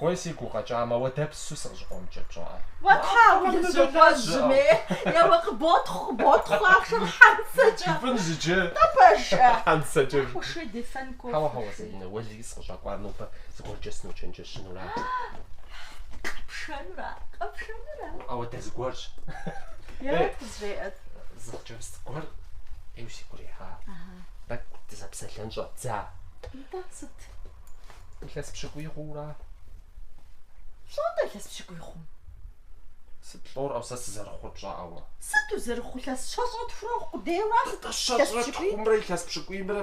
Уэлей си гу къэкӏамэ, уэ дэпсу сыкъыщӏыкъуэмыкӏыр пщӏыӏэ? Жыпӏэнщ иджы. Хьэуэ-хьэуэ, Залинэ, уэлей сыкъыщӏэкӏуар нобэ зыгуэркӏэ сыночэнджэщынура? Ауэ дэ зыгуэрщ. Зы хъыджэбз гуэр ӏейуэ си гу ирихьа. Тӏэкӏу дызэпсэлъэн щӏэддза. Илъэс пщыкӏуий хъууэ ара? Щӏэ атӏэ илъэс пщыкӏуий хъум сыт? Лӏор, ӏэу, сэ сызэрыхъур пщӏа ӏэуэ? Сыт узэрыхъур илъэс щэщӏрэ тхурэ къудейуэ? Атӏэ щэщӏрэ тхумрэ илъэс пщыкӏуимрэ?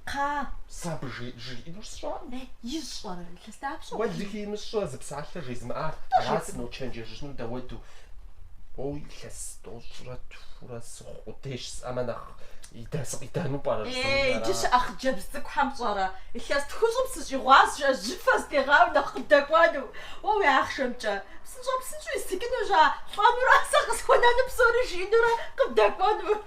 Кхъа. Сэ абы жиӏэнур сщӏэкъым. Ищӏэрэ илъэс Дапщэ Уэлэхьи имыщӏэ зы псалъэ жезмыӏа, аращ сыночэнджэщыжыну дауэду. Уо илъэс тӏощӏрэ тхурэ сыхъу къудейщ жысӏэмэ нэхъ идэ сыкъидэну пӏэрэ жызоӏэри Ей, ара? иджы щыӏэ хъыджэбз цӏыкӏухэм пщӏэрэ, илъэс тхущӏым сыщӏигъуащ жыӏи жьыфэ зытегъауи нэхъ къыбдэкӏуэну. Уэ уи ахъшэмкӏэ, псынщӏэу-псынщӏэу исыкӏынущ а, лӏэнурэ, сэ къысхуэнэну псори жиӏэнурэ къыбдэкӏуэну.